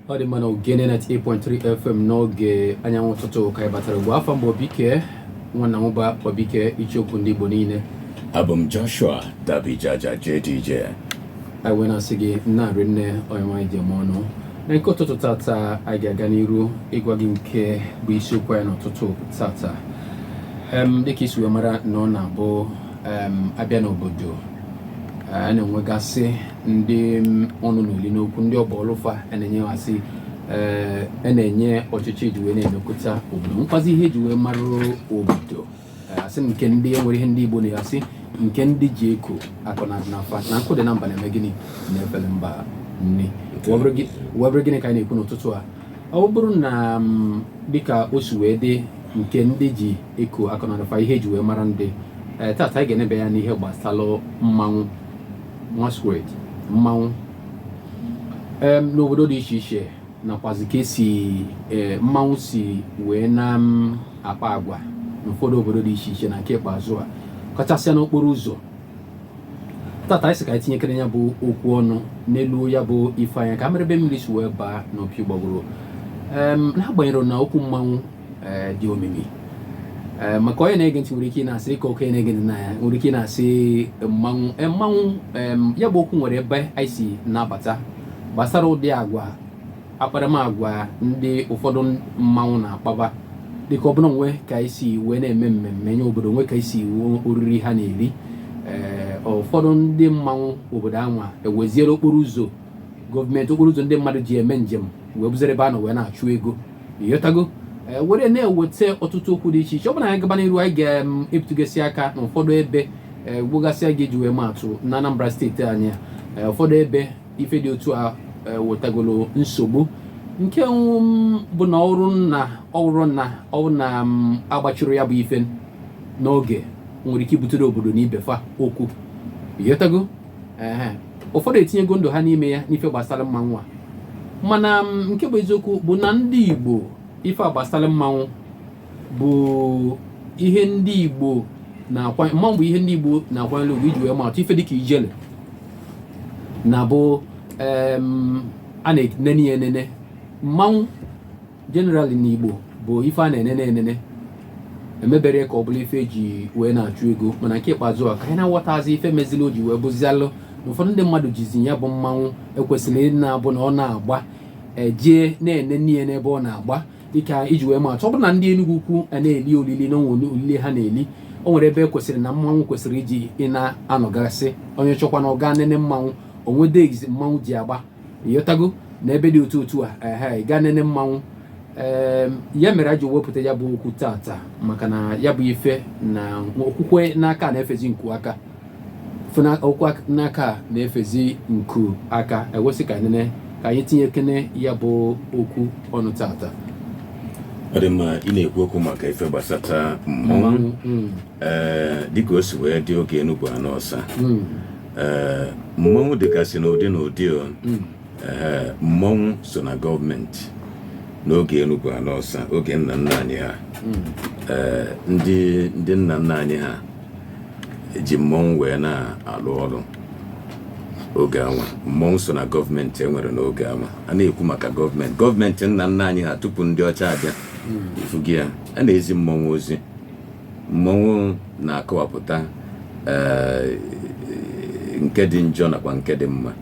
ọ dị mma na ogene 98.3 fm n'oge anyanwụ ụtụtụ ka anyị batara ugbu a afa m bụ obike nwa nnanwụba obike icheoku ndị igbo niile abụ m joshua dabijaja jdj anyị wee na-asị gị na-arị nne onye nwaanyị ji eme ọnụ na nke ụtụtụ tata anyị ga-aga n'iru ịgwa gị nke bụ isiokwu anyị n'ụtụtụ tata dịka i si wee mara na ọ na-abụ a bịa n'obodo a na-enwegasị ndị ọnụ na-elu n'okwu ndị ọ bụ ọlụ fa a na-enyegasị a na-enye ọchịchị ji wee na-emekọta obodo nakwazị ihe e ji wee mara obodo a sị nke ndị e nwere ihe ndị Igbo na-asị nke ndị ji eko akọnarịna fa na nkụ dị na mba na-eme gịnị na-efere mba nni webere gịnị ka anyị na-ekwu n'ụtụtụ a ọ bụrụ na mm, dịka o si wee dị nke ndị ji eko akọnarịna fa ihe eji wee mara ndị eh, tata anyị ga-eneba anya n'ihe gbasalụ mmanwụ masquerade mmanwụ n'obodo dị iche iche nakwazị ka esi e, mmanwụ si wee na-akpa agwa n'ụfọdụ obodo dị iche iche na nke ikpeazụ a kachasịa n'okporo ụzọ tata anyị sị ka anyị tinyekere ya bụ okwu ọnụ neluo ya bụ ife anya ka mara ebe mmiri si wee baa n'opi ụgbọgụrụ n'agbanyeghị na okwu mmanwụ eh, dị omimi eh, maka onye na-ege ntị nwere ike na-asị dịka okenye na-ege ntị na ya nwere ike na-asị mmanwụ eh, mmanwụ ya bụ okwu nwere ebe anyị si na-abata gbasara ụdị agwa akparamagwa ndị ụfọdụ mmanwụ na-akpaba dịka ọbụla nwe ka anyị si wee na-eme mmemme nye obodo nwe ka anyị si oriri ha na-eri ee ụfọdụ ndị mmanwụ obodo anwa eweziere okporo ụzọ gọọmenti okporo ụzọ ndị mmadụ ji eme njem wee bụzịrị ebe a nọ wee na-achụ ego ịghọtago ee, were na-eweta ọtụtụ okwu dị iche iche ọ bụrụ na anyị gaba n'iru anyị ga-ebutugasị aka n'ụfọdụ ebe ee, gbogasịa iji wee ma atụ na Anambra steeti anyị a ee, ụfọdụ ebe ife dị otu a ee, wetagolo nsogbu nke um, bụ na ọ bụrụ na ọ bụrụ na ọ bụrụ na um, agbachirọ ya bụ ife n'oge nwere ike ibutere obodo na ibe fa okwu ịghọtago ehe ụfọdụ etinyego ndụ ha n'ime ya n'ife gbasara mmanwụ a mana m, nke bụ eziokwu bụ na ndị igbo ife a gbasara mmanwụ bụ ihe ndị igbo na-akwa mmanwụ bụ ihe ndị igbo na-akwanyere ugwu iji wee ma atụ ife dịka ijele na bụ em, a na-enene ya enene mmanwụ generally n'Igbo bụ ife a na-enene enene emebere ka ọ bụlụ ife eji wee na-achụ ego mana nke ikpeazụ a ka anyị na-aghọtazi ife mezili o ji wee bụzialụ na ụfọdụ ndị mmadụ jizi ya bụ mmanwụ ekwesịrị ịdị na-abụ na ọ na-agba ejee na-enene ya n'ebe ọ na-agba dịka iji wee maatụ ọ bụrụ na ndị Enugwu Ukwu na-eli olili na o nwe olili ha na-eli o nwere ebe ekwesịrị na mmanwụ kwesịrị ịdị na-anọgasị onye chọkwa na ọ ga-enene mmanwụ o nwe days mmanwụ ji agba ịghọtago na ebe dị otu otu a ehe ị ga-enene mmanwụ ee ya mere e ji wepụta ya bụ okwu tata maka na ya bụ ife na okwukwe n'aka na-efezi nku aka okwukwe n'aka na-efezi nku aka e wee sị ka nene ka anyị tinyekene ya bụ okwu ọnụ tata ọ dị mma ị na-ekwu okwu maka ife gbasata mmanwụ mm. ee dịka o si wee dị oge enu bụ ana ọsa mm. ee mmọnwụ dịgasị n'ụdị n'ụdị o hmm. ee mmọnwụ so na gọọmenti n'oge enu bụ ana ọsa oge nna nna anyị ha hmm. ee ndị ndị nna nna anyị ha ji mmọnwụ wee na-alụ ọlụ oge anwa mmọnwụ so na gọọmenti enwere n'oge anwa a na-ekwu maka gọọmenti gọọmenti nna nna anyị ha tupu ndị ọcha abịa hmm. ịfụgo ya a na-ezi mmọnwụ ozi Mmọnwụ na-akọwapụta ee nke dị njọ nakwa nke dị mma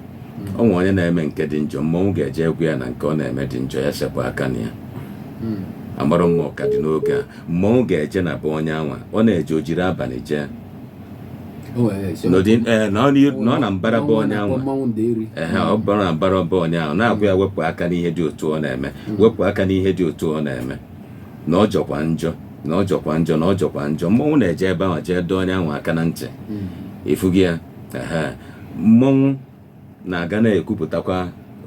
o nwee onye na-eme nke dị njọ mmọnwụ ga-eje gwa ya na nke ọ na-eme dị njọ ya sepụ aka na ya amarọ mma ọ ka dị n'oge a mmọnwụ ga-eje na be onye anwa ọ na-eje o jiri abanị jee O wee na-esi n'ụdị ee, nọọ n'ihu- nọọ na mbara be onye anwa mmanwụ ndeeri ehe ọ bụrụ na mbara be onye ahụ na-agwa ya wepụ aka n'ihe dị otu a ọ na-eme wepụ aka n'ihe dị otu a ọ na-eme na ọ jọkwa njọ na ọ jọkwa njọ na ọ jọkwa njọ mmọnwụ na-eje ebe ahụ jee dọọ onye ahụ aka na ntị ịfụgo ya ehe. mmọnwụ na-aga na-ekwupụtakwa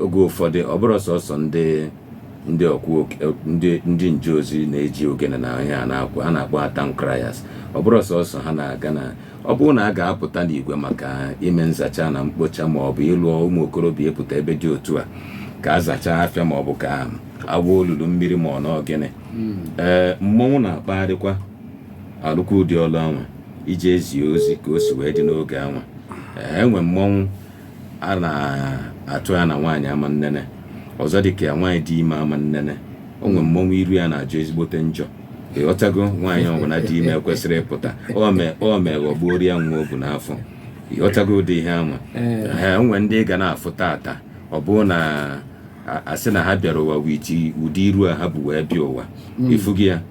oge ụfọdụ ọ bụrụ sọsọ ndị ndị oku ndị ndị nje ozi na-eji ogene na ihe a na-akpọ a na-akpọ town criers ọ bụrụ sọsọ ha na-aga na ọ bụrụ na a ga-apụta n'igwe maka ime nzacha na mkpocha ma ọ bụ ịlụ ụmụ okorobịa ịpụta ebe dị otu a ka a zachaa afịa ma ọ bụ ka e gwuo olulu mmiri ma ọ na ọ gịnị ee mmọnwụ na-akpagharịkwa alụkwa ụdị ọlụ anwa iji ezi ozi ka o si wee dị n'oge anwa ee enwe mmọnwụ a na-atụ ya na nwaanyị ama nnene ọzọ dị ka ya nwaanyị dị ime ama nnene o nwe mmọnwụ iru ya na-ajọ ezigbote njọ ịghọtago nwaanyị ọbụla dị ime ekwesịrọ ịpụta o mee o mee ghọgbuoro ya nwa o bu n'afọ ịghọtago ụdị ihe anwa Ee. ee o nwe ndị ị ga na-afụ tata ọ bụrụ na a- asị na ha bịara ụwa with ụdị iru a ha bu wee bịa ụwa ịfụghị ya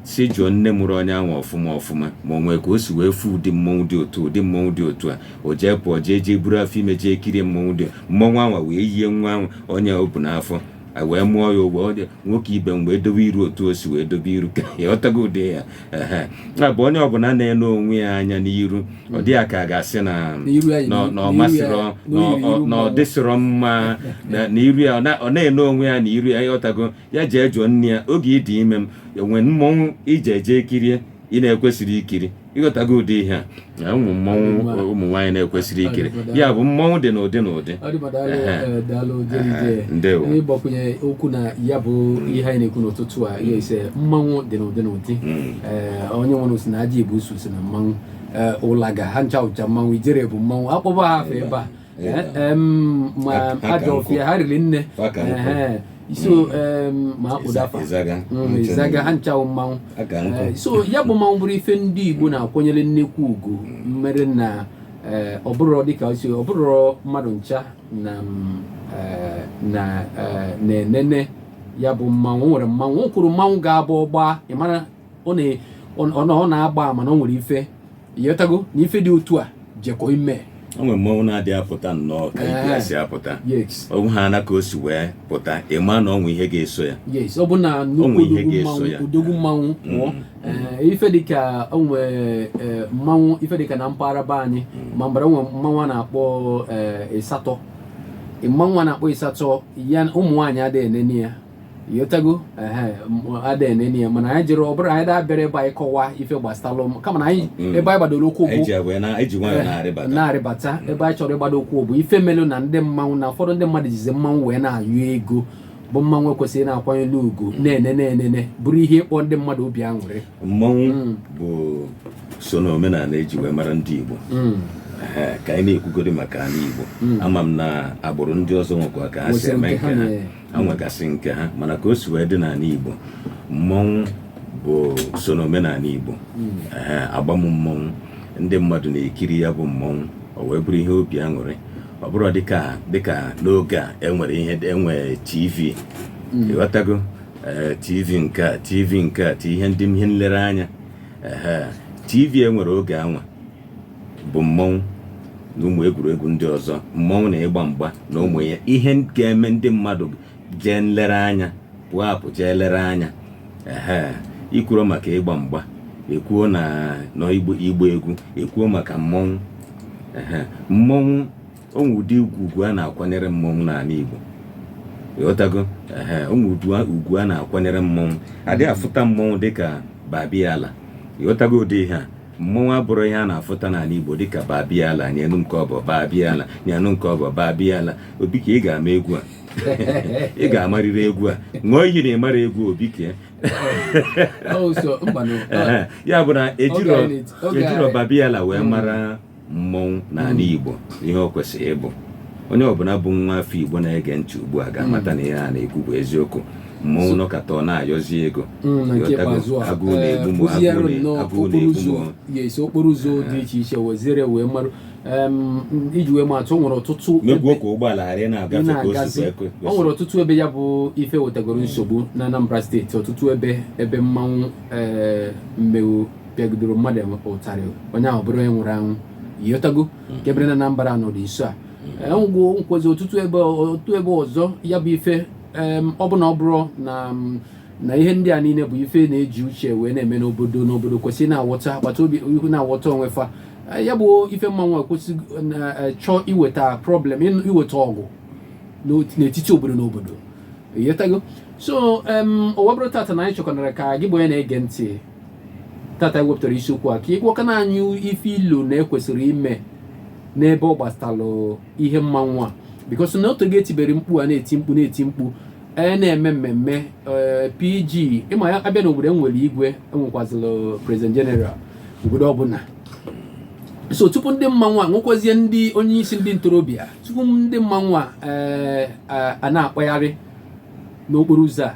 sị jụọ nne mụrụ onye ahụ ọfụma ọfụma ma o nwee ka o si wee fụ ụdị mmọnwụ dị otu ụdị mmọnwụ dị otu a o jee pụọ jee jee buru afọ ime jee kirie mmọnwụ dị mmọnwụ anwa wee yie nwa ahụ onye o bu n'afọ a wee mụọ ya ụwa ọ dị nwoke ibe mgbe edobe iru otu o si wee dobe iru ka ịghọtago ụdị ya ehe ya bụ onye ọbụna na-ene onwe ya anya n'iru ọ dị ya ka a ga-asị na n'iru ya- na- na ọ n'iru ya- masịrọ na ọ- n'iru ọ- na ọ dịsịrọ mma na na iru ya ọ na- ọ na-ene onwe ya na iru ya ịghọtago ya jee jụọ nne ya oge ị dị ime m e nwe mmọnwụ i je jee kirie ị na-ekwesịrị ikiri ịghọtago ụdị ihe a na ụmụ mmọnwụ Mma. ụmụ nwaanyị na-ekwesịrị ikiri Ọdịmma. ya bụ mmọnwụ dị n'ụdị n'ụdị ọ dịba daalụ Ehe. eh, daalụ jerije Ehe, ndewo. ịgbakwunye okwu na ya bụ ihe anyị na-ekwu n'ụtụtụ a ya ị sị mmanwụ dị n'ụdị n'ụdị Mm. Eh, onye nwere sị na ajibusu sị na mmanwụ Eh, ụlaga ha ncha bụcha mmanwụ ijele bụ mmanwụ akpọba ha afa ebe a ajọ ọfịa ha riri nne so ma akpụdafa izaga ha ncha wụ mmanwụ so ya bụ mmanwụ bụrụ ife ndị Igbo na-akwanyere nnekwu ugwu mere na ọ bụrọ dịka o si ọ bụrọ mmadụ ncha na na-enene ya bụ mmanwụ nwere mmanwụ kwuru mmanwụ ga-abụ ọ gbaa ị mara ọ na-agba ama na ọ nwere ife ịghọtago na ife dị otu a jekọ ime o nwere mmanwụ na-adị apụta nnọọ ka ibe ya si apụta o nwe ha na ka o si wee pụta ị ma na o nwe ihe ga-eso ya ọ bụ na nnukwu odogwu mmanwụ pụọ mm. eh, ife dịka o nwe eh, mmanwụ ife dịka na mpaghara be anyị mm. Ọmambala o nwe mmanwụ a na-akpọ ịsatọ eh, mmanwụ a na-akpọ ịsatọ ya ụmụ nwaanyị adịghị enene ya ịghọtago ada enene ya mana anyị jere ọ bụrọ anyị abịarọ ebe a ịkọwa ife gbasalụ kama na anyị mm. ebe anyị gbadoro ụkwụ bụ na-arịbata ebe anyị chọrọ ịgbado ụkwụ bụ ife melụ na ndị mmanwụ na ụfọdụ ndị mmadụ jizi mmanwụ wee na-ayọ ego bụ mmanwụ ekwesịrị na-akwanyere ugwu mm. na-ene na-enene bụrụ ihe ịkpa ndị mmadụ obi aṅụrị mmanwụ mm. bụ so na omenanị eji wee mara ndị Igbo ka anyị na-ekwugodi maka anị Igbo ama m na agbụrụ ndị ọzọ nwekwa ka ha si eme nke ha ha nwegasị nke ha mana ka o si wee dị n'anị Igbo mmọnwụ bụ so n'omenanị Igbo a gba mmọnwụ ndị mmadụ na-ekiri ya bụ mmọnwụ o wee bụrụ ihe obi aṅụrị ọ bụrụ dịka dịka n'oge a enwere ihe enwe tv hmm. ịghọtago eh, tv nke a tv nke a ti ihe ndị ihe nlereanya tv e nwere oge anwa bụ mmọnwụ na ụmụ egwuregwu ndị ọzọ mmọnwụ na ịgba mgba na ụmụ ya ihe ga-eme ndị mmadụ jee nlere anya pụọ apụ jee lere anya ehe i kwuru maka ịgba mgba ekwuo na na ịgba ịgba egwu ekwuo maka mmọnwụ ehe mmọnwụ o nwee ụdị ugwu ugwu a na-akwanyere mmọnwụ n'ala igbo ịghọtago ehe o nwee ugwu a na-akwanyere mmọnwụ adịghị afụta mmọnwụ dịka babiala ịghọtago ụdị ihe a mmọnwụ abụrọ ihe a na-afụta n'ala Igbo dịka babiala nyenu nke ọbọ babiala nyenu nke ọbọ babiala Obike ị ga-ama egwu a ị ga-amarịrị egwu a ṅụọ iyi na ịmara egwu Obike ya bụ na ejirọ babiala wee mara mmọnwụ n'ala hmm. Igbo ihe o kwesịrị ịbụ onye ọbụla bụ nwa afọ Igbo na-ege ntị ugbu a ga-amata na ihe a na-ekwu bụ eziokwu mmọnwụ nọkata ọ na-ayọzi ego hmm, agụụ na-egbu m eh, agụụ na-egbu m okporo ụzọ dị iche iche weziere wee marụ iji wee maa atụ o nwere ọtụtụ o nwere ọtụtụ ebe ya bụ ife wetagoro nsogbu na Anambra steeti ọtụtụ ebe ebe mmanwụ eh, mmanwụ pịagidoro mmadụ ụtarị onye ahụ bụrụ onye nwụrụ anwụ ịghọtago nke mere na Anambra nọ dị nso a enwegwo nkwozi ọtụtụ ebe otu ebe ọzọ ya bụ ife em, ọ bụ na ọ bụrụ na m, na ihe ndị a niile bụ ife na-eji uche wee na-eme n'obodo n'obodo kwesịrị na-awọta agbata obi ihu na-awọta onwe fa Eh, ya bụ ife mmanwụ ekwesịrọ iweta problem ịnụ- iweta ọgụ n'ot- n'etiti obodo na obodo Ịghọtago? so em, ọ wee bụrụ tata na anyị chọkọnara ka gị bụ onye na-ege ntị tata ewepụtara isiokwu a ka ị gwakwanụ anyị ife i lo na ekwesịrị ime n'ebe ọ gbasalụ ihe mmanwụ a because na o tego e tibere mkpu a na-eti mkpu na-eti mkpu a na-eme mmemme eh, PG ị ma na a bịa n'obodo enwere igwe enwekwazịlụ president general obodo ọbụla so tupu ndị mmanwụ a nwekwazie ndị onye isi ndị ntorobịa tupu ndị mmanwụ a eh, a na-akpagharị n'okporo ụzọ a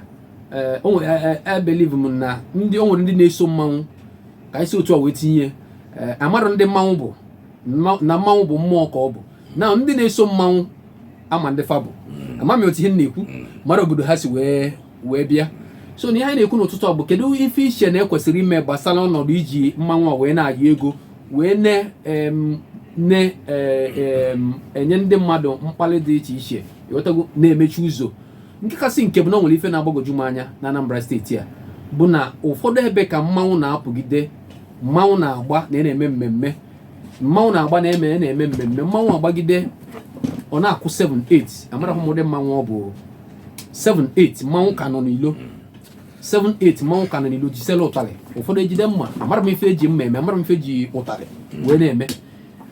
eh, o nwere e believe eh, eh, m na ndị o nwere ndị na-eso mmanwụ ka e si otu a wee tinye a marọ ndị mmanwụ bụ na mmanwụ bụ mmụọ ka ọ bụ na ndị na-eso mmanwụ ama ndị fa bụ mm. ama m otu ihe na-ekwu mm. mara obodo ha si wee wee bịa so na ihe anyị na-ekwu n'ụtụtụ a bụ kedu ife i che na ekwesịrị ime gbasara ọnọdụ iji mmanwụ a wee na-ayọ ego wee na-enye ndị mmadụ mkpali dị iche iche ịghọtago na-emechi ụzọ nke kasị nke bụ na o nwere ife na-agbagwoju m anya na Anambra steeti a bụ na ụfọdụ ebe ka mmanwụ na-apụgide mmanwụ na-agba na e na-eme mmemme mmanwụ na-agba na-eme e na-eme mmemme mmanwụ agbagide ọ na-akụ 7 8 amarahụ m ụdị mmanwụ ọ bụ 7 8 mmanwụ ka nọ n'ilo 7 8 mmanwụ ka nọ n'ilo jisela ụtarị ụfọdụ ejide mma amarọ m ife e ji mma eme amarọ m ife e ji ụtarị wee na-eme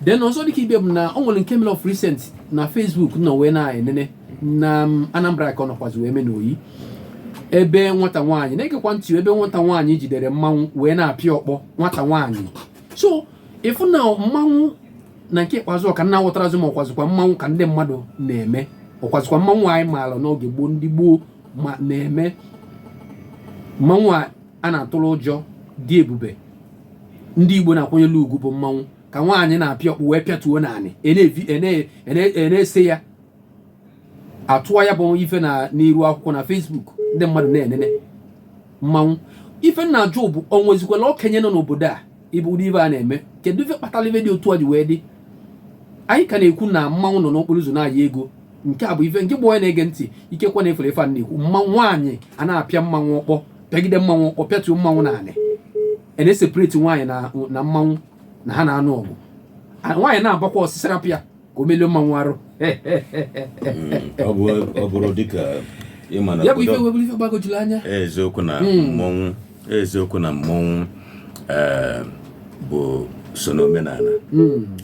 then ọzọ dịka ibe bụ na o nwere nke mere of recent na Facebook nọ wee na-enene na um, Anambra ka ọ nọkwazi wee mee n'Oyi ebe nwata nwaanyị na-egekwa ntị ebe nwata nwaanyị jidere mmanwụ wee na-apịa ọkpọ nwata nwaanyị so ị fụ na mmanwụ na nke ikpeazụ ọka nna aghọtarọzi m ma ọkwazikwa mmanwụ ka ndị mmadụ na-eme ọkwazikwa mmanwụ anyị maara n'oge gboo ndị gboo ma na-eme mmanwụ a a na-atụrụ ụjọ dị ebube ndị Igbo na-akwanyere ugwu bụ mmanwụ ka nwaanyị na-apịa ọkpọ wee pịatuo n'anị a na-ese ya atụwa ya bụ ife na n'iru akwụkwọ na Facebook ndị mmadụ na-enene mmanwụ ife m na-ajụ bụ o nwezikwala okenye nọ n'obodo a ebe ụdị ife a na-eme kedu ife kpatara ife dị otu a ji wee dị anyị ka na-ekwu na mmanwụ nọ n'okporo ụzọ na-ayọ ego nke a bụ ife nke gị bụ onye na-ege ntị ikekwe na ị fụrụ ife a na-ekwu mma nwaanyị a na-apịa mmanwụ ọkpọ pịagide mmanwụ ọkpọ pịatuo mmanwụ n'anị a na-eseparate nwaanyị na mmanwụ na ha na-anụ ọgụ nwaanyị na-agbakwa ọsịsara pịa ka o melụọ mmanwụ arụ ọ bụrụ dịka ị ma na ya bụ ife wee bụrụ ife gbagojuru anya eziokwu na mmọnwụ eziokwu na mmọnwụ ee bụ so n'omenala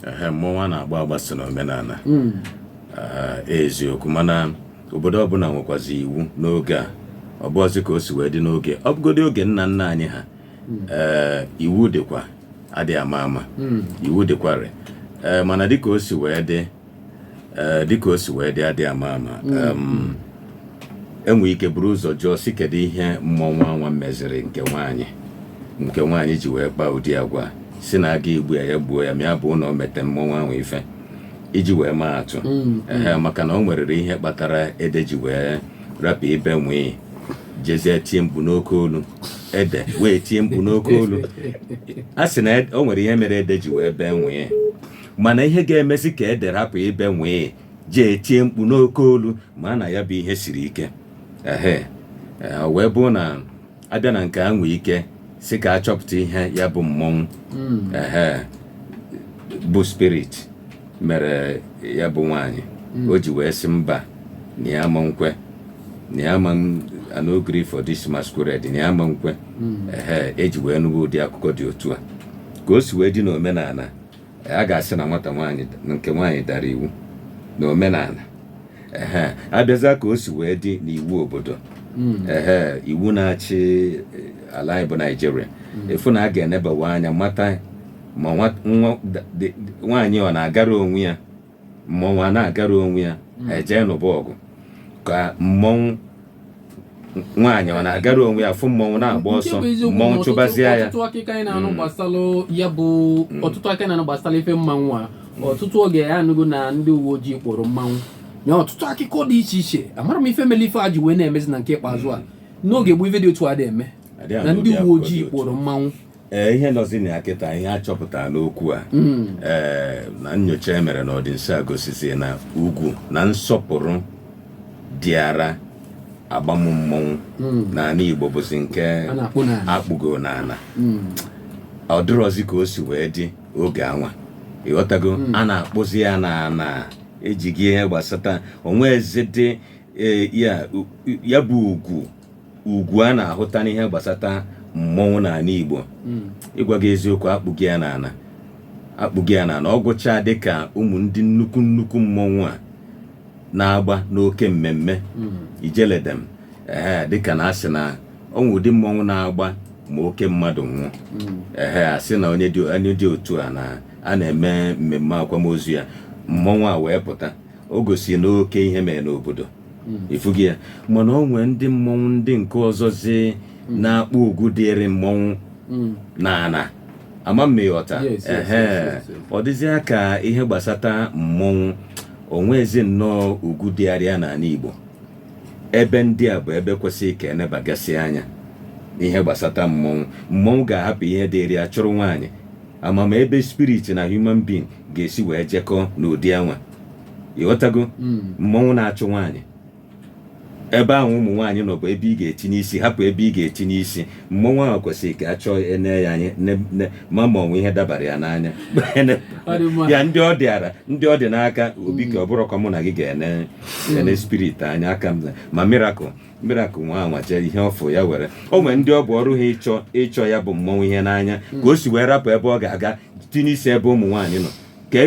ehe mmọnwụ a na-agba agba so n'omenala eziokwu mana obodo ọbụla nwekwazi iwu n'oge a ọ bụọzi ka o si wee dị n'oge ọ bụgodị oge nna nna anyị ha ee iwu dịkwa adịghị ama ama hmm. iwu dịkwarị eh, mana dịka o si wee dị eh, dịka o si wee dị adịghị ama ama hmm. e nwee ike buru ụzọ jụọ sị kedu ihe mmọnwụ anwa meziri nke nwaanyị nke nwaanyị ji wee kpaa ụdị agwa sị na a ga-egbu ya ya gbuo ya ma ya bụ na o mete mmọnwụ anwa ife iji wee maa atụ hmm. maka na o nwerere ihe kpatara ede ji wee rapụ ibe nwịị jezie tie mkpu n'oke olu ede wee tie mkpu n'oke olu a sị na e- o nwere ihe mere ede ji wee bee nwịị mana ihe ga-emezi ka ede rapụ ibe nwịị jee tie mkpu n'oke olu maa na ya bụ ihe siri ike ehe ee, o wee bụrụ na a bịa na nke a nwee ike sị ka a chọpụta ihe ya bụ mmọnwụ ehe bụ spirit mere ya bụ nwaanyị hmm. o ji wee sị mba na ya ma nkwe na ya ama no gree for this masquerade na ya ma nkwe hmm. ehe eji wee nụwa ụdị akụkọ dị otu a ka o si wee dị n'omenala a ga-asị na nwata nwaanyị nke nwaanyị dara iwu na omenala ehe abịazi ka o si wee dị n'iwu obodo hmm. ehe iwu na-achị ala anyị bụ Naijiria ị fụ na a ga-enebawa anya mata ma nwa nwa da- dị- dị- nwaanyị ọ na-agara onwe ya mmọnwụ a na-agara onwe ya eje nụba ọgụ ka mmọnwụ nwaanyị ọ na-agara onwe ya fụ mmọnwụ na-agba Nke ọsọ bụ eziokwu na mmọnwụ ọtụtụ- chụbazịa ya ọtụtụ akụkọ anyị na-anụ gbasara ya bụ ọtụtụ akụkọ anyị na-anụ gbasara ife mmanwụ a ọtụtụ oge ya anụgo na ndị uwe ojii kpọrọ mmanwụ na ọtụtụ akụkọ dị iche iche amarọ m ife mere ife a ji wee na-emezi na nke ikpeazụ a n'oge gboo ife dị otu a adị eme Adịghị na anụ ndị ụdị uwe akụkọ dị ojii otu. kpọrọ mmanwụ ee ihe nọzi na ya kịta ihe a chọpụtara n'okwu a ee na nyocha e mere n'ọdịnso a gosizi na ugwu na nsọpụrụ dịara agbam mmọnwụ n'ala Igbo bụzi nke A na-akpụ n'ala. akpụgo n'ala ọ dịrọzi ka o si wee dị oge anwa ịghọtago a na-akpụzi ya n'ana ejighị ihe gbasata o nwezidi ee, ya ya bụ ugwu ugwu a na-ahụta n'ihe gbasata mmọnwụ n'ala Igbo hmm. ịgwa gị eziokwu akpụgo ya n'ala akpụgo ya n'ala ọ gụchaa dịka ụmụ ndị nnukwu nnukwu mmọnwụ a na-agba n'oke mmemme hmm. Ijele dem ee dịka na asị na o nwe ụdị mmọnwụ na-agba ma oke mmadụ nwụọ hmm. ehe asị na onye dị otu a na a na-eme mmemme akwamozu ya mmọnwụ a wee pụta o gosi na oke ihe mere n'obodo hmm. ị fụgo ya mana o nwee ndị mmọnwụ ndị nke ọzọzi hmm. na-akpụ ugwu dịrị mmọnwụ hmm. n'ana ama m ma ịghọta ọ dịzịa ka ihe gbasata mmọnwụ o nwezi nnọọ ugwu dịara ya n'ala Igbo ebe ndị a bụ ebe kwesịrị ka enebagasị anya n'ihe gbasata mmọnwụ mmọnwụ ga-ahapụ ihe dịrị ya chụrụ nwaanyị ama m ebe spirit na human being ga-esi wee jekọọ n'ụdị anwa ịghọtago mmọnwụ na-achụ nwaanyị ebe ahụ ụmụ nwaanyị nọ bụ ebe ị ga-etinye isi hapụ ebe ị ga-etinye isi mmọnwụ ahụ kwesịrị ka a chọọ ene ya anya ne- ne- ma ma o nwe ihe dabara ya n'anya Ọ dị mma. ya ndị ọ dịara ndị ọ dị n'aka obi ka ọ bụrọkwa mụ na gị ga-ene ene spirit anya aka m na- ma miracle miracle nwa anwa jee ihe ọfụ ya were o nwere ndị ọ bụ ọrụ ha ịchọ ịchọ ya bụ mmọnwụ ihe n'anya ka o si wee rapụ ebe ọ ga-aga tinye isi ebe ụmụ nwaanyị nọ ka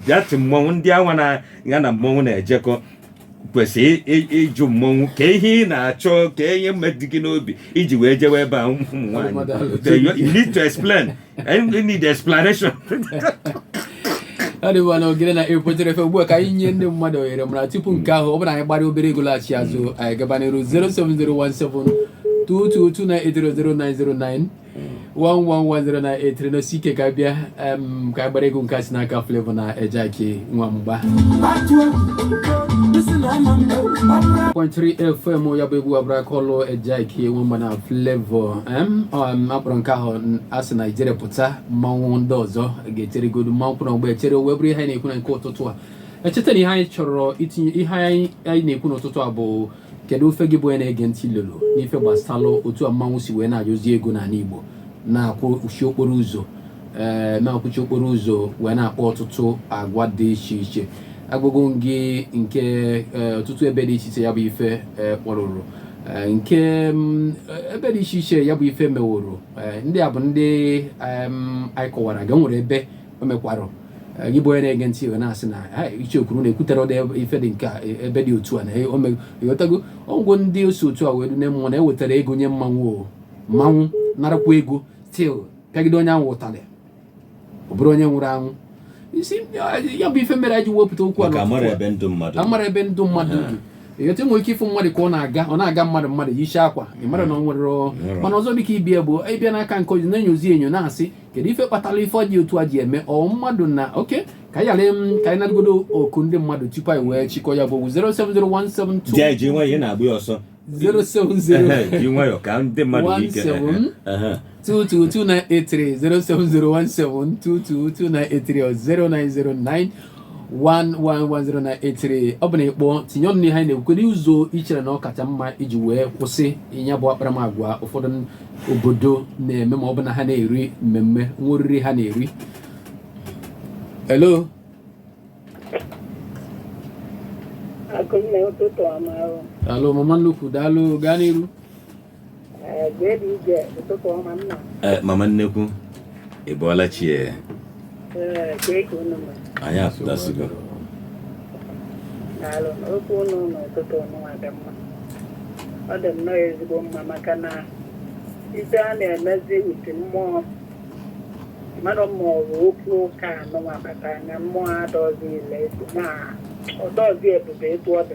dati mmọnwụ ndị anwa na ya na mmọnwụ na-ejekọ kwesịrị ịjụ mmọnwụ ka ihe ị na-achọ ka ihe dị gị n'obi iji wee jewe ebe a ụmụ nwaanyị you need to explain you need explanation adịwa na ogene na ekwetere efe ugbu a ka anyị nye ndị mmadụ ohere mana tupu nke ahụ ọ bụrụ anyị gbara obere egwu laghachi azụ anyị gaba n'iru 07017 222 983 0909 1110983 nọsie ike ka bịa ka a gbara egwu nke si n'aka Flavour na Ejyk Nwamba 1.3 FM ya bụ egwu abụrụ aka ọlụ Ejyk Nwamba na Flavour a kpọrọ nke ahụ a sị na Ijele pụta mmanwụ ndị ọzọ ga-echere godu mmanwụ kwụrụ ọgbọ echere wee bụrụ ihe anyị na-ekwu na nke ụtụtụ a echeta na ihe anyị chọrọ itinye ihe anyị na-ekwu n'ụtụtụ a bụ kedu ife gị bụ onye na-ege ntị lolo n'ife gbasalụ otu a mmanwụ si wee na-ayọzi ego n'ala Igbo na-akwụchi okporo ụzọ ee eh, na-akwụchi okporo ụzọ wee na-akpa ọtụtụ agwa dị iche iche agụgụ gị nke eh, ọtụtụ ebe dị iche iche ya bụ ife eh, kpọrụrụ nke mm, ebe dị iche iche ya bụ ife meworo ndị a bụ ndị anyị kọwara gị nwere ebe o mekwara gị bụ onye na-ege ntị i wee na-asị na Icheoku na-ekwutere ụdị ife dị nke ebe dị otu a na ị ghọtago ọgwụ ndị osi otu a wee dune mmụọ na-ewetara ego nye mmanwụ o mmanwụ narakwa ego still pịagide onye ahụ ụtalị ọ bụrụ onye nwụrụ anwụ isi ya bụ ife mere anyị ji wepụta okwu a amara ebe ndụ mmadụ amara ebe ndụ mmadụ dị ị ghọta nwere ike ịfụ mmadụ ka ọ na-aga ọ na-aga mmadụ mmadụ yichi akwa ị mara na ọ nwere mana ọzọ dịka ibia bụ ịbịa n'aka nke onye na-enyozi enyo na-asị kedu ife kpatara ife dị otu a ji eme ọ mmadụ na oke ka anyị ghara m ka anyị natagodo oku ndị mmadụ tupu anyị wee chịkọ ya bụ okwu 07017 ji anyị ji nwayọọ ị na-agba ya ọsọ 070 ji nwayọọ ka ndị mmadụ nwee ike One Ehe. 222-983 07017 222-983 or 0909 1110983 ọ bụ na ị kpọọ tinye ọnụ n'ihe anyị na-ekwu n'ụzọ i chere na ọ kacha mma iji wee kwụsị nya bụ akparamagwa ụfọdụ obodo na-eme ma ọ bụ na ha na-eri mmemme nwa oriri ha na-eri hello Akụnne ụtụtụ ọma o. daalụ mama nnukwu daalụ gaa n'iru Eh, mama nnekwu ị bọọla chi ya eh? eh, anyị apụtasigo okwu ụnụ n'ụtụtụ ọnụnwa dị mma ọ dị nnọọ ezigbo mma maka na ife a na-emezi iti mmụọ mmadụ mmụọ bụ okwu ụka anụnwa bata anya mmụọ adọzi ile na ọ dọzi ebube etu ọ dị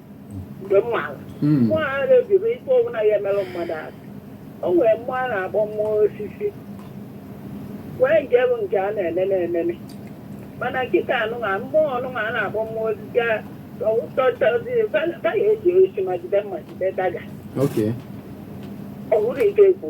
mgbe m maara Mm. mmụọ a na-ebibe ife ọbụla ya emerụ mmadụ ahụ o nwere mmụọ a na-akpọ mmụọ osisi nwee nke bụ nke a na-enene enene mana kịta nụnwa mmụọ nụnwa a na-akpọ mmụọ osisi a tọtọzi ya eji osi ma jide mma jide daga Okay. ọ bụrụ ike ekwu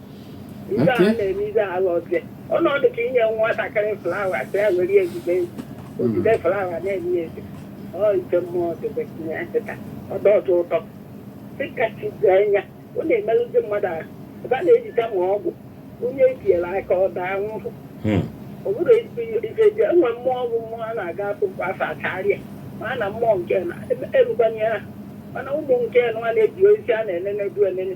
Ihe a Okay. na-eme ihe ahụ ọzọ. Ọ na-adị ka inye nwatakịrị flawa sị ya were ya ejide o jide flawa na-eme ya eze. Ọ ite mmụọ debe tinye ya kịta. Ọ dị atọ ụtọ. Dịka chi dị anya, ọ na-emerụ ndị mmadụ ahụ. Ebe a na-ejide ma ọgwụ, onye etinyere aka ọ daa nwụrụ. Hmm. Ọ bụrụ ezigbo ihe ife dị, enwe mmụọ ọgwụ mmụọ a na-aga akwụkwọ afọ acharịa. Ma a na mmụọ nke na erugbanye ha. Mana ụmụ nke nwa na-eji ozi a na-enene du enene.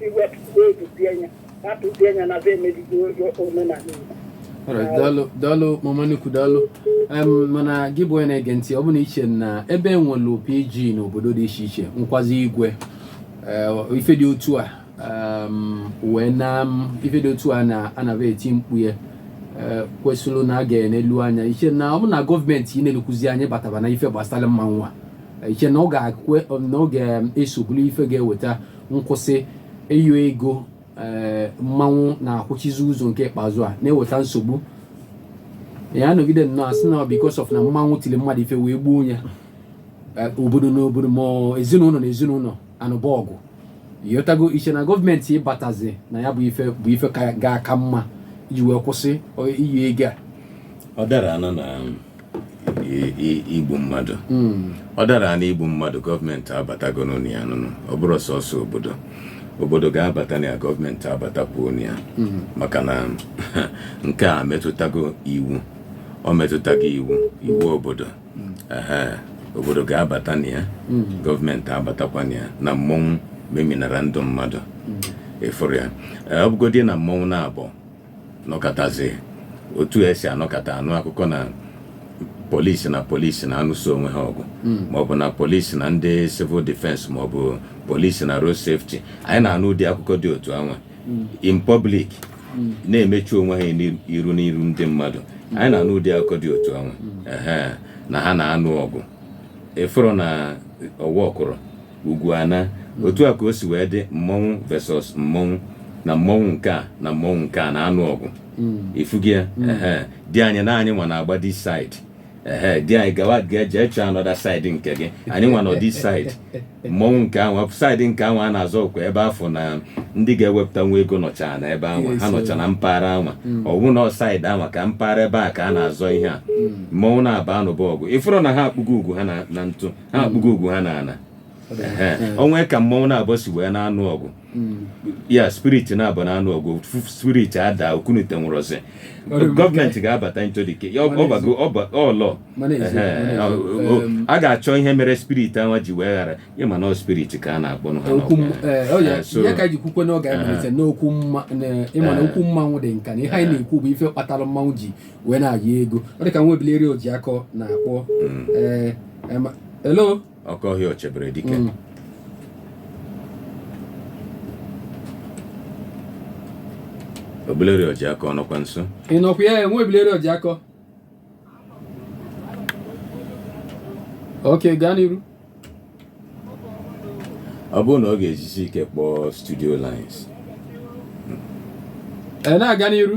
iwepụta obi bie nya rapụ bie nya na be emebigo omenala Igbo Alright, daalụ daalụ mama nnukwu daalụ Em, mana gị bụ onye na-ege ntị ọ bụ na iche na ebe enwelu PG n'obodo dị iche iche nwekwazi igwe eh, ife dị otu a em, wee na m- ife dị otu a na anaba eti mkpu ya eh, kwesịrị na a ga-enelu anya iche na ọ bụ na gọọmenti inelukwuzi anya bataba na ife gbasara mmanwụ a iche na ọ ga-ekwe na ọ ga-eso bụlụ ife ga-eweta nkwụsị ịyọ ego ee eh, mmanwụ na-akwụchizi ụzọ nke ikpeazụ a na-eweta nsogbu ya anọgide nnọọ asị na because of na mmanwụ tili mmadụ ife wee gbuo onye eh, obodo na obodo ma ezinụlọ na ezinụlọ anụba ọgụ ị ghọtago iche na gọọmenti ịbatazi na ya bụ ife ga-aka mma iji wee kwụsị ịyọ ego a ọ dara ana na igbu mmadụ hmm. ọ dara na igbu mmadụ gọọmenti abatago na ya nụnụ ọ bụrụ sọsọ obodo obodo ga-abata na ya gọọmenti abatakwuo na ya hmm. maka na nke a metụtago iwu ọ metụtago iwu iwu obodo hmm. obodo ga-abata na ya gọọmenti abatakwa na ya na mmọnwụ meminara ndụ mmadụ ịfụrụ ya ọ bụgodị na mmọnwụ naabọ nọkatazi otu esi anọkata anụ akụkọ na polisi na polisi na-anụso onwe ha ọgụ hmm. maọbụ na polisi na ndị civil defense maọbụ polisi na road safety anyị na-anụ ụdị akụkọ dị otu anwa hmm. in public hmm. na-emechu onwe ha iru n'iru ndị mmadụ anyị na-anụ ụdị akụkọ dị otu anwa na ha na-anụ ọgụ ịfụrụ na ọwa ọkụrụ Ugwu ana. Otu a ka o si wee dị mmọnwụ versus mmọnwụ na mmọnwụ nke a na mmọnwụ nke a na-anụ ọgụ. Ifugo ya? Ehe. Di anyị na anyị nwa na-agba this side. Ehe. Di anyị gawa ga- jee chọọ another side nke gị. Anyị nwa nọ this side. Mmọnwụ nke anwa side nke anwa a na-azọ ọkwa ebe a fụ na ndị ga-ewepụta nwa ego nọcha na ebe anwa. Ha nọcha na mpaghara anwa. Ọ bụ na ọ side anwa ka mpaghara ebe a ka a na-azọ ihe a. Mmọnwụ naabọ anụba ọgụ. Ịfụrụ na ha akpụgo ugwu ha na na ntụ. ha hmm. akpụgo ugwu ha n'ana o nwe ka mmanwụ naabọ si wee na-anụ ọgụ hmm. ya spirit naabọ na-anụ ọgụ spirit ada okunite nwụrụzi gọọmenti ga-abata ntolike ọlọ a ga-achọ ihe mere spirit ahụ ji wee ghara ịma na spirit ka a na-akpọ n'okwu mmanwụ dị nka na ihe anyị na-ekwu bụ ife kpatara mmanwụ ji wee na-ayọ ego ọ dị ka nwa ebileri Ojiakọ na-akpọ mm. ee eh, eh, hello oke ọhịa chebere dike mm. ebileri Ojiakọ nọkwa nso ị nọkwa ya nwa ebileri Ojiakọ ok gaa n'iru ọ bụrụ na ọ ga-ejisi ike kpọọ studio lines eh, na-aga n'iru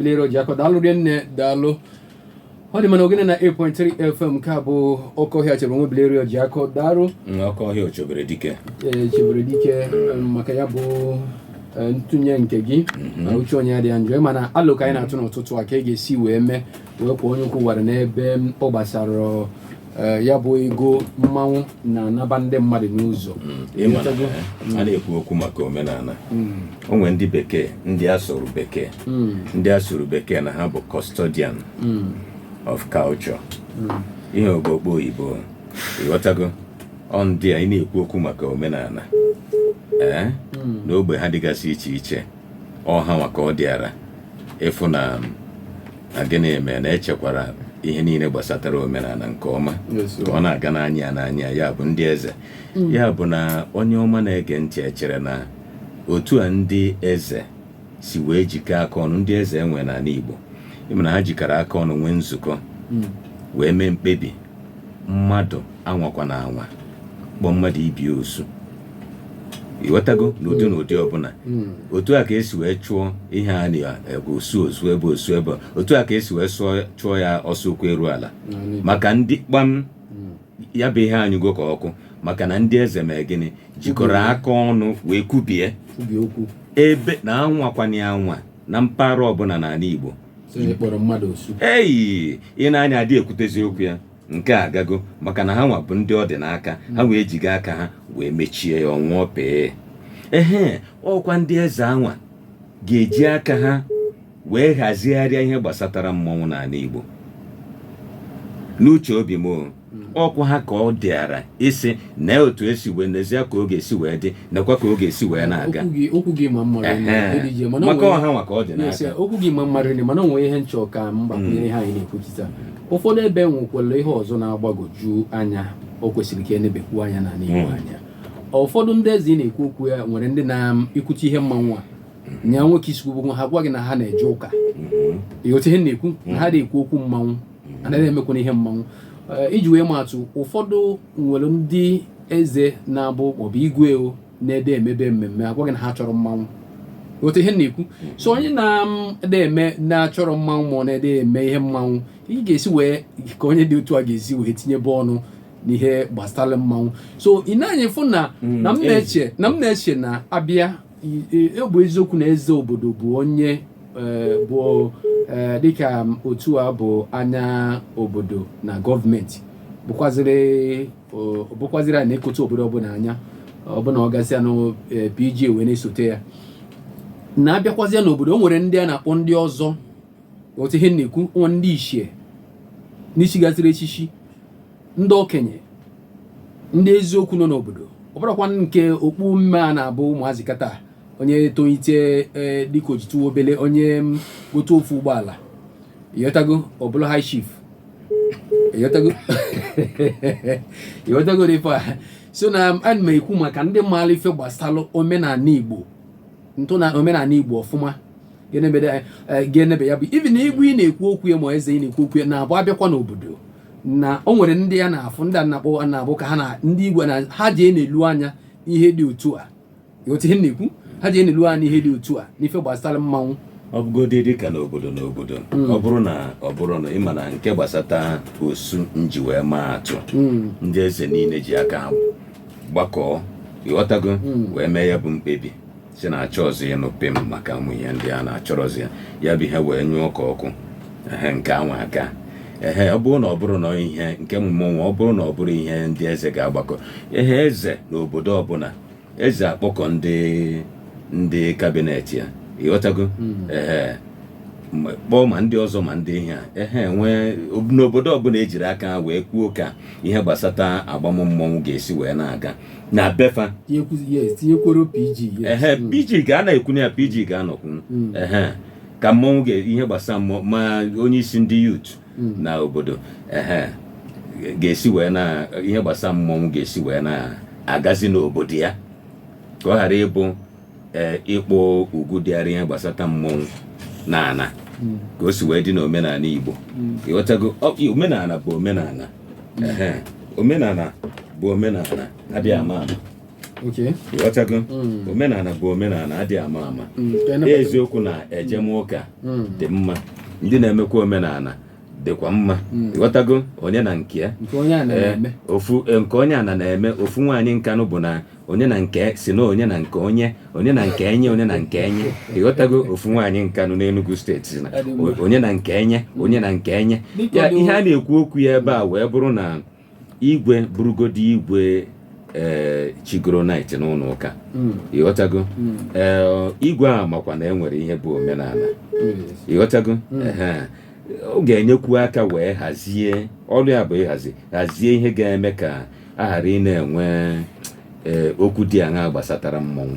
lere Ojiakọ daalụ rinne daalụ ọ dị mma na Ogene 98.3 fm nke a bụ oke ọhịa chebere nwa ebilere Ojiakọ daalụ oke ọhịa chebere dike ee chebere dike em, maka ya bụ eh, ntụnye nke gị na uche onye adị ya njọ mana alo ka anyị na-atụ n'ụtụtụ a ka a ga-esi wee mee wee kwọọ onye ukwu wara n'ebe ọ gbasara Eh, ya bụ ego mmanwụ na-anaba ndị mmadụ n'ụzọ hmm, hmm. a na-ekwu okwu maka omenana hmm. o nwe ndị bekee ndị a sụrụ bekee ndị a sụrụ bekee na ha bụ custodian of culture ihe ogbokpo oyibo ịghọtago ọ ndị a ị na-ekwu okwu maka omenana ee eh, n'ogbe ha dịgasị iche iche ọ ha nwa ka ọ dịara ịfụ na gịnị eme na e chekwara ihe niile gbasatara omenana nke ọma ka ọ na-aga n'anya n'anya ya bụ ndị eze mm. ya bụ na onye ọma na-ege ntị echere na otu a ndị eze si wee jikọọ aka ọnụ ndị eze e nwe n'ani Igbo ị ma na ha jikọrọ aka ọnụ nwee nzukọ mm. wee mee mkpebi mmadụ anwakwana anwa kpọọ mmadụ ibe ya osu ịghọtago n'ụdị n'ụdị ọbụna hmm. otu a ka e si wee chụọ ihe a na-ebe osu osu ebe osu ebe otu a ka e si wee chụọ ya ọsọ ụkwụ eru ala maka ndị kpam hmm. ya bụ ihe anyụgo ka ọkụ maka na ndị eze mee gịnị jikọrọ aka ọnụ wee kwubie ebe na anwakwana anwa na mpaghara ọbụna n'ani Igbo eyi ị na-anụ ya adị ekwutezi okwu ya nke a agago maka na ha nwa bụ ndị ọ dị n'aka ha wee jiga aka ha wee mechie ya ọ nwụọ pịị ehe ọkwa ndị eze anwa ga-eji aka ha wee hazigharịa ihe gbasatara mmanwụ n'ani Igbo n'uche obi m ọkwa ha ka ọ dịara isi na otu esi wee nezie ka ọ ga-esi wee dị nakwa ka ọ ga-esi wee na-aga okwu gị okwu gị ma mmadụ Ehe. na eri ji mana maka onwe- ọha nwa ka ọ dị Yes, n'aka okwu gị ma mmadụ na mana o nwe ihe m chọ ka m gbakwunyere ihe anyị na-ekwuchita ụfọdụ ebe nwekwara ihe ọzọ na-agbagwoju anya o kwesịrị ka e nebekwu anya n'ana igbo Mm. anya ụfọdụ ndị eze ị na-ekwu okwu ya nwere ndị na-ekwuchi ihe mmanwụ a nya nwoke isikwu bụ ha gwa gị na ha na-eje ụka Mhm. ịghọta ihe m na-ekwu na ha na-ekwu okwu mmanwụ anaghị emekwana ihe mmanwụ eh, iji wee maa atụ ụfọdụ nwere ndị eze na-abụ maọbụ igwe ọ na-adị e mebe mmemme a gwa gị na ha achọrọ mmanwụ ịghọta ihe m na-ekwu so onye na-adị eme na-achọrọ mmanwụ ma ọ na-adị eme ihe mmanwụ ị ga-esi wee ka onye dị otu a ga-esi wee tinyebe ọnụ n'ihe gbasara mmanwụ so ị nee anya fụ na na m na-eche na m na-eche na a bịa ọ bụ eziokwu na eze obodo bụ onye eh, bụ eh, dịka otu a bụ anya obodo na gọọmenti bụkwaziri a na-enekọta obodo ọbụla anya ọbụna ọ gasịa na eh, PG wee na-esote ya na a bịakwazịa n'obodo o nwere ndị a na-akpọ ndị ọzọ ịghọta ihe m na-ekwu ndị ichie ndị chigasịrị echichi ndị okenye ndị eziokwu nọ n'obodo ọ bụrụkwa nke okpu mmee a na-abụ ụmụazị kịta onye tolite e, dịka o jitụ obele onye gote ofu ụgbọala ịghọtago ọ bụrụ high chief ịghọtago ịghọtago ife a so na ana m ekwu maka ndị maara ife gbasara omenala igbo ntọana omenala igbo ọfụma ga-enebede ya eh, ga-enebe ya bụ ife na igwe ị na-ekwu okwu ya ma eze ị na-ekwu okwu ya na-abụ a bịakwa n'obodo na o nwere ndị a na-afụ ndị a na-akpọ a na-abụ ka ha na ndị igwe na ha ji na-enelu anya ihe dị otu a ịghọta ihe m na-ekwu ha ji na-enelu anya ihe dị otu a n'ife gbasara mmanwụ ọ bụgodị dị ka n'obodo n'obodo ọ bụrụ na ọ bụrụ na ịma na nke gbasata osu m ji wee maa atụ ndị eze niile ji aka ha gbakọọ ịghọtago wee mee ya bụ mkpebi sị na achọrọzi ịnụ pim maka ụmụ ihe ndị a na achọrọzi ya ya bụ ihe wee nyụọ ka ọkụ ehe nke anwa agaa ehe ọ bụrụ na ọ bụrụ na ihe nke mmọnwụ a ọ bụrụ na ọ bụrụ ihe ndị eze ga-agbakọ ehe eze na obodo ọbụla eze akpọkọ ndị ndị kabinet ya ịghọtago hmm. ehe kpọọ ma ndị ọzọ ma ndị ihe a ehe nwee n'obodo ọbụla ejiri aka wee kwuo ka ihe gbasata agbam mmọnwụ ga-esi wee na-aga na be fa tinyekworo pg ehe mm. pg ga-anọkwu na ya pg ga-anọkwunu mm. ehe ka mmọnwụ ga ihe gbasara mmụọ ma onye isi ndị youth mm. na obodo ehe ga-esi wee na ihe gbasara mmọnwụ ga-esi wee na-agazi n'obodo ya ka ọ ghara ịbụ ee ịkpọ ugwu dịara ihe gbasata mmọnwụ na ana ka o si wee dị n'omenala Igbo ịghọtago Ọ- i- omenala bụ omenala Ehe. omenala bụ omenala adịghị ama ama ok ịghọtago Mm. omenala bụ omenala adịghị ama ama Mm, ka anyị nabata- eziokwu na ejem ụka Mm. dị mma ndị na-emekwa omenala dịkwa mma hmm. ịghọtago onye na nke ya eh, ofu eh, nke onye ana na-eme ofu nwaanyị Nkanu bụ na onye na nke si na onye na nke onye onye na nke enye onye na nke enye ịghọtago ofu nwaanyị Nkanu n'Enugu steeti si na onye na nke enye onye na nke enye ya ihe a na-ekwu okwu ya ebe a wee bụrụ na igwe bụrụgodi igwe ee eh, chigoro knight n'ụlọ ụka hmm. ịghọtago hmm. eh, igwe a makwa na e nwere ihe bụ omenala hmm. ịghọtago ọ ga-enyekwu aka wee hazie ọrụ ya bụ ịhazi hazie ihe ga-eme ka a ghara ị na-enwe eh, okwu dị aṅaa gbasatara mmọnwụ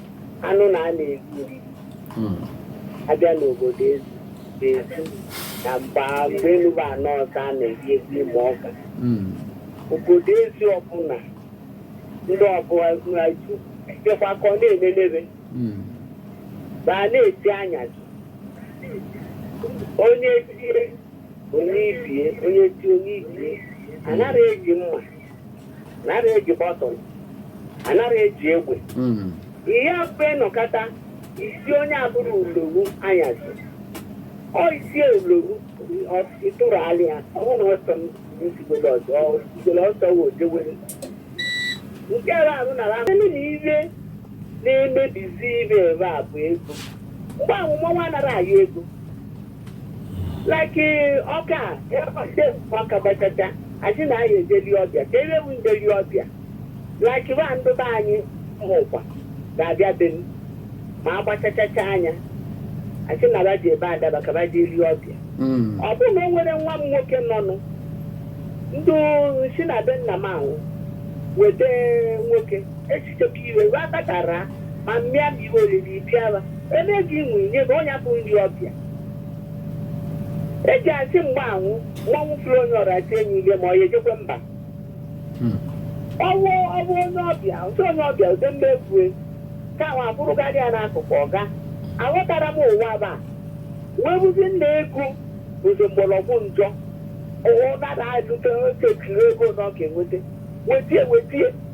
anụ na a na-eri oriri Hmm. abịa n'obodo ezi ezu na mgba mgbe enuba anọ ọzọ a na-eri egwu Imọka Hmm. obodo ezi ọbụla ndị ọbụla jekwa ka ọ na-enenebe Hmm. ma a na-eti anyasị onye tie onye ibie onye tie onye ibie anaghị eji mma anaghị eji bọtụl anaghị eji egbe Mm. ihe mfe nọkọta isi onye abụrụ ulowu anyasị ọ isi ulowu ị tụrụ alị ya ọhụrụ ọsọ m nsigolo ọzọ nsigolo ọsọ wee ojewere nke ebe ahụ nara ahụ ndị na ihe na-emebizi ihe ebe a bụ ego mgbe ahụ mmọnwụ anara ayọ ego like eh, ọka ọka gbachacha asị na anyị ejeli ọbịa ka ebe bụ njeli ọbịa like ba ndị be anyị hụkwa ga-abịa be m ma agbachachacha anya asị na ba ji ebe adaba ka ba ji eli ọbịa Mm. ọ bụrụ na o nwere nwa m nwoke nọnụ ndị si na be nna m ahụ weta nwoke chekwa iwe ruo aka ka raa ma mmịa ma ihe oriri bịara ebe gị nwe nye gị ọ ya bụ nri ọbịa eji asị mgbe ahụ mmanwụ fụrụ onye ọra tie enyi ile ma ọ ya ejekwe mba Hmm. ọwụ ọwụ onye ọbịa ụtụ onye ọbịa ụdị mma ekwue ka ahụ abụrụkarị ya n'akụkụ Ọka aghọtara m ụwa ba wee bụzi na ego bụzi mgbọrọgwụ njọ ụwa ụdara alụte oche kiri ego na ọ ga-enweta wetie wetie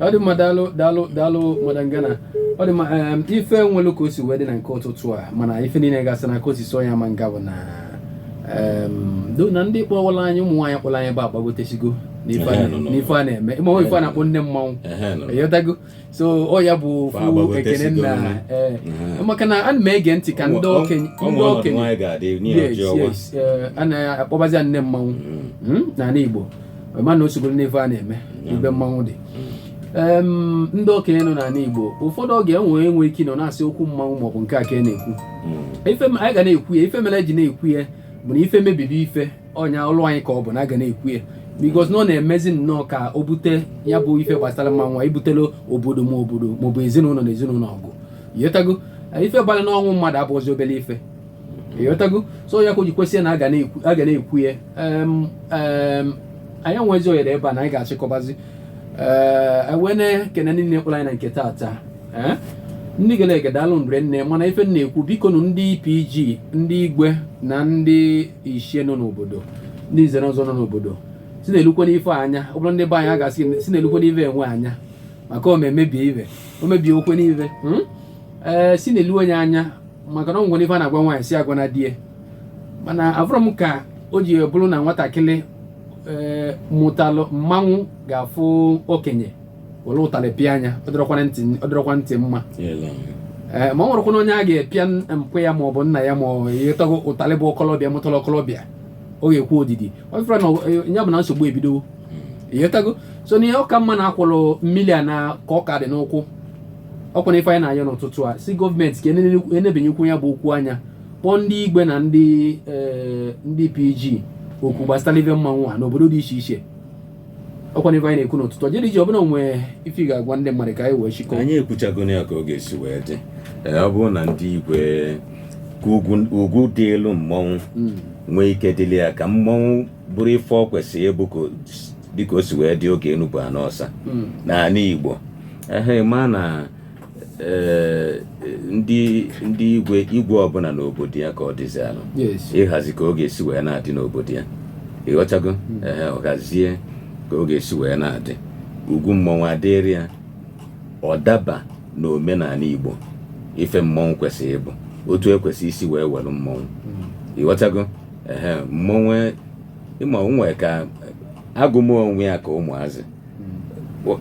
ọ dị mma daalụ daalụ daalụ madam Gana ọ dị mma ife nwelu ka o si wee dị na nke ụtụtụ a mana ife niile gasị na ka o si so ya ma nga bụ na do na ndị kpọwala anyị ụmụ nwaanyị kpọrọ anyị bụ agbagotesigo n'ife a na-eme ịma ife a na-akpọ nne mmanwụ ịghọtago so ọ ya bụ ofu ekene nna eh, maka na ana m ege ntị ka ndị okenye ndị okenye anaghị akpọbazi nne mmanwụ mm. hmm, n'ala Igbo mana o sogoro n'ife a na-eme ebe mmanwụ dị ndị okenye nọ n'ala Igbo ụfọdụ oge enwe enwe ike nọ na-asị okwu mmanwụ maọbụ nke a ka e na-ekwu hmm. anyị ga na-ekwu ya ife mere e ji na-ekwu ya bụ na ife emebibe ife ọnya ọlụ anyị ka ọ bụ na a ga na-ekwu ya because na ọ na-emezi nnọọ ka o bute ya bụ ife gbasara mmanwụ ibutelu obodo ma obodo maọbụ ezinụlọ na ezinụlọ ọgụ ịghọtago ife gbara n'ọnwụ mmadụ abụghịzi obere ife ịghọtago so ya ka o ji kwesị na a ga na-ekwu ya anyị nwezi ohere ebe a na anyị ga-achịkọbazi ee wee na-ekene ndị niile kpọrọ anyị na nke taata ee ndị gere ege daalụ rinne mana ife na-ekwu biko nụ ndị PG ndị igwe na ndị ichie nọ n'obodo ndị nze na ọzọ nọ n'obodo si na-elukwe n'ife anya ọ bụrụ ndị be anyị a ga-asị gị si na-elukwe n'ife enwe anya maka o mebie ibe o mebie okwe n'ife ee si na-elu onye anya maka na ọ nwere ife a na-agwa nwaanyị sị agwana di ya mana afụrọ m ka o ji bụrụ na nwatakịrị ee mụtalụ mmanwụ ga-afụ okenye were ụtalị pịa anya ọ dịrọkwana ntị ọ dịrọkwa ntị mma ee ma ọ nwerekwana onye a ga-epịa mpa ya ma ọ bụ nna ya ma ọ bụ ịghọtago ụtalị bụ ọkọlọbịa mụtara ọkọlọbịa ọ ga-ekwe odidi ị fụrụ na ọ- ya bụ na nsogbu ebidowo ịghọtago so na ihe ọ ka mma na akwọrọ mmiri a na ka ọ ka dị n'ụkwụ ọkwa na ife anyị na-ayọ n'ụtụtụ a sị gọọmenti ka enebenyekwu ya bụ okwu anya kpọọ ndị igwe na ndị eh, ndị pg okwu gbasara ife mmanwụ a n'obodo dị iche iche ọkwa na ife anyị na-ekwu n'ụtụtụ a dị iche ọ bụ na enwee ife ị ga-agwa ndị mmadụ ka anyị wee chịkọ anyị ekwuchago ya ka ọ ga-esi wee dị eh, ọ bụrụ na ndị igwe ka ugwu dịịlụ mmọnwụ hmm. nwee ike dịrị ya ka mmọnwụ bụrụ ife ọ kwesịrị ịbụ ka dịka o si wee dị oge enu bụ ana ọsa hmm. n'ala Igbo ehe ma na eh, ndị ndị igwe igwe ọbụla n'obodo ya ka ọ dịzịlụ ịhazi ka ọ ga-esi wee na-adị n'obodo ya ịghọtago hmm. ehe ọ hazie ka ọ ga-esi wee na-adị ugwu mmọnwụ adịrị ya ọ daba n'omenala Igbo ife mmọnwụ kwesịrị ịbụ otu e kwesị isi wee were mmọnwụ hmm. ịghọtago ehe mmọnwụ ịma onwe ka agụmụ onwe ya ka ụmụazị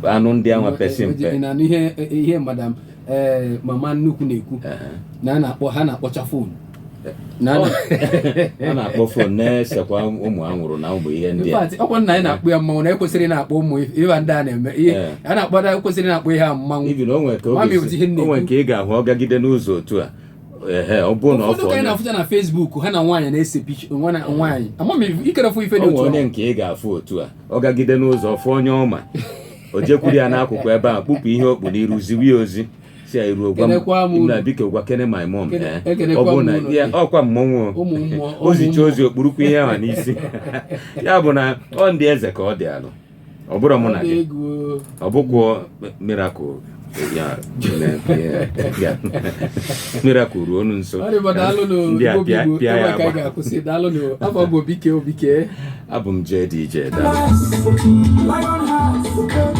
anụ ndị anwa pesi mpe Ị na-anụ ihe ihe madam ee mama nnukwu na-ekwu Ehe. na a na-akpọ ha na-akpọcha fon na a na- a na-akpọ fon na-esekwa ụmụ anwụrụ na ụmụ ihe ndị In a fact, ọkwa nna anyị na-akpọ ya mmanwụ na ekwesịrị na-akpọ ụmụ ihe ndị a na-eme ihe Eh. a na-akpọ na ekwesịrị na-akpọ ihe a mmanwụ Even o nwere ka ọ Mami, ga-esi- ụdị ihe m o nwere na-ekwu. nke ị ga-ahụ ọ gagide n'ụzọ otu a ehe ọ bụrụ na ọ ụfọdụ ka anyị fọrọ na-afụcha na Facebook ha na nwaanyị na-ese picture nwa na nwaanyị ama m ikerefụ ife dị ọ otu nwere onye ahụ. nke ị ga-afụ otu a ọ gagide n'ụzọ fụ onye ọ ma o jekwuru ya n'akụkụ ebe a kpupụ ihe o kpu n'iru ziwe ya ozi si ya i ruo gwa Kenekwa m m unu. na biko gwa kene my mom Kene- eh. ọ ekenekwa bụrụ m na unu. ya ọkwa mmọnwụ o. Ụmụ mmụọ, ụmụ o zicha mmụọ. ozi o kpurukwu ihe ahụ n'isi ya bụ na ọ ndị eze ka ọ dị alụ ọ bụrụ mụ na gị ọ bụkwuo miracle ya miracle ruo onu nso ndị a pịa pịa ya agba abụ m JDJ daalụ